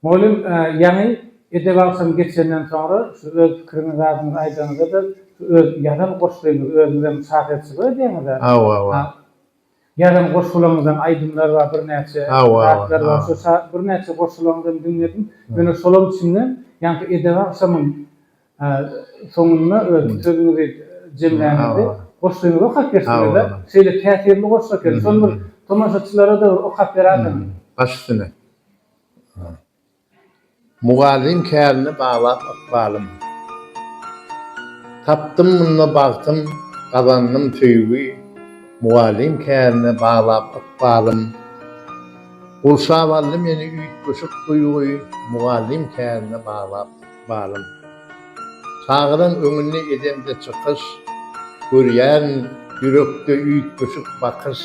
Mugallym, ýaňy edep agşamy geçenden soňra şu öz pikiriňiz zadyňyzy aýdanyňyzda-da şu öz ýazan goşgyňyzy özüňizem şahyrçylyk edýäňiz-ä? Hawa, hawa. Ýazan goşgularyňyzam aýdymlar bar, birnäçe zatlar bar. Şu şa birnäçe goşgularyňyzam diňledim. Ýöne şolaryň içinden ýaňky edep agşamyň soňunda öz sözüňizi jemlänizde goşgyňyzy okap berseňiz-ä, şeýle täsirli goşgy eken. Şony bir tomaşaçylara-da bir okap beräýseňiz. Baş üstüne. Mugallym kärine balap ykbalym. Tapdym munda bagtym, gazandym söýgi, Mugallym kärine balap ykbalym. Gurşap aldy meni üýtgeşik duýgy, Mugallym kärine balap ykbalym. Çagadan öňünde edemde çykyş, Görýärin ýürekde üýtgeşik bakyş.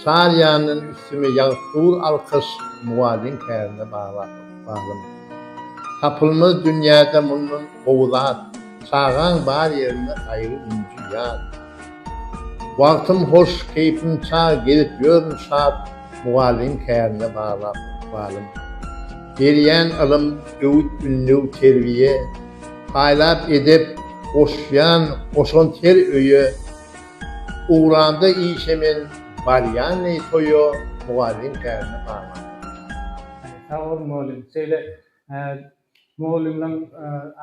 Çar ýandan üstüme ýagyp dur alkyş mugallym kärine baglama. Tapylmaz dünýäde mundan gowy zat, çagaň bar ýerinde gaýgy ünji ýat. Wagtym hoş, keýpim çag, gezip ýörün şat, mugallym kärine baglama. Berýän ylym, öwüt-ündew, terbiýe, paýlap edep, goşýan goşant her öýe. Ugranda işe men barýanleý toýa mugallym kärini gaman. Sag bol mugallym. Şeýle mugallymlaň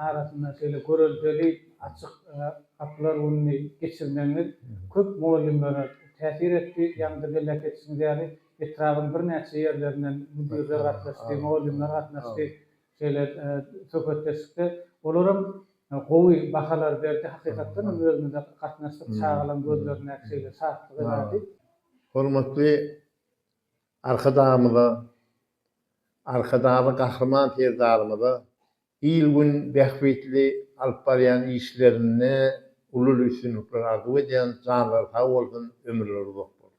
arasynda şeýle göreldeli açyk gapylar gününi geçirmegiňiz köp mugallymlara täsir etdi. Ýaňyja belläp geçişiňiz ýaly, etrabyň birnäçe ýerlerinden müdirler gatnaşdy, mugallymlar gatnaşdy. Şeýle söhbetdeşlikde olaram gowy bahalar berdi. Hakykatdan hem özümize gatnaşdyk. Çagalaryň gözlerindäki şeýle şatlygy bärdi. Hormatly Arkadagymyza, Arkadagly Gahryman Serdarymyza il-gün bähbitli alyp barýan işlerinde uly üstünlikler arzuw edýän. Janlary sag bolsun, ömürleri uzak bolsun!